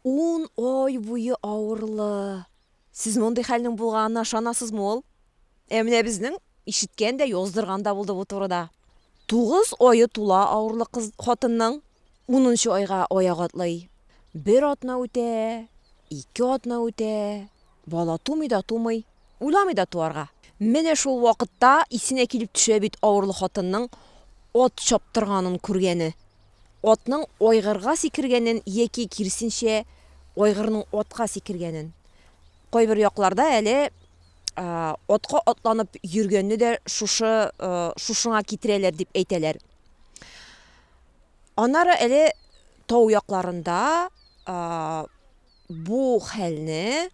Ун ай буе авырлы. Сез мондый хәлнең булганына ышанасызмы ул? Ә менә безнең ишеткән дә, яздырган да булды бу турыда. Тугыз ае тула авырлы кыз хатынның, унынчы айга аяк атлый. Бер атна үтә, ике атна үтә, бала тумый да тумый. Уйламый да туарга. Менә шул вакытта исенә килеп төшә бит авырлы хатынның ат чаптырганын күргәне. Атның айгырга сикергәнен яки, киресенчә, айгырның атка сикергәнен. Кайбер якларда әле атка атланып йөргәнне дә шушы шушыңа китерәләр дип әйтәләр. Аннары әле тау якларында бу хәлне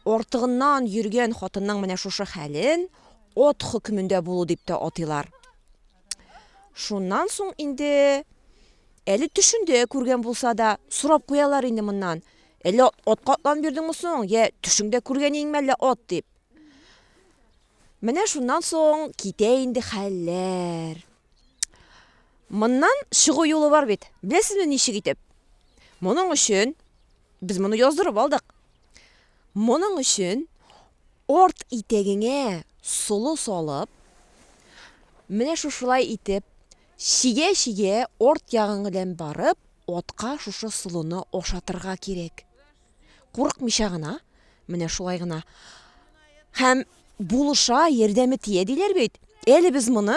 Артыгыннан йөргән хатынның менә шушы хәлен от хөкемендә булу дип тә атыйлар. Шуннан соң инде әле төшендә күргән булса да, сорап куялар инде моннан. Әллә атка атланып йөрдеңме соң, йә төшеңдә күргәнеңме әллә ат дип. Менә шуннан соң китә инде хәлләр. Моннан чыгу юлы бар бит. Беләсезме ничек итеп? Моның өчен без моны яздырып алдык. Моның өчен арт итәгеңә солы салып, менә шушылай итеп, чигә-чигә арт ягың белән барып, атка шушы солыны ашатырга кирәк. Курыкмыйча гына, менә шулай гына. Һәм булыша, ярдәме тия диләр бит. Әле без моны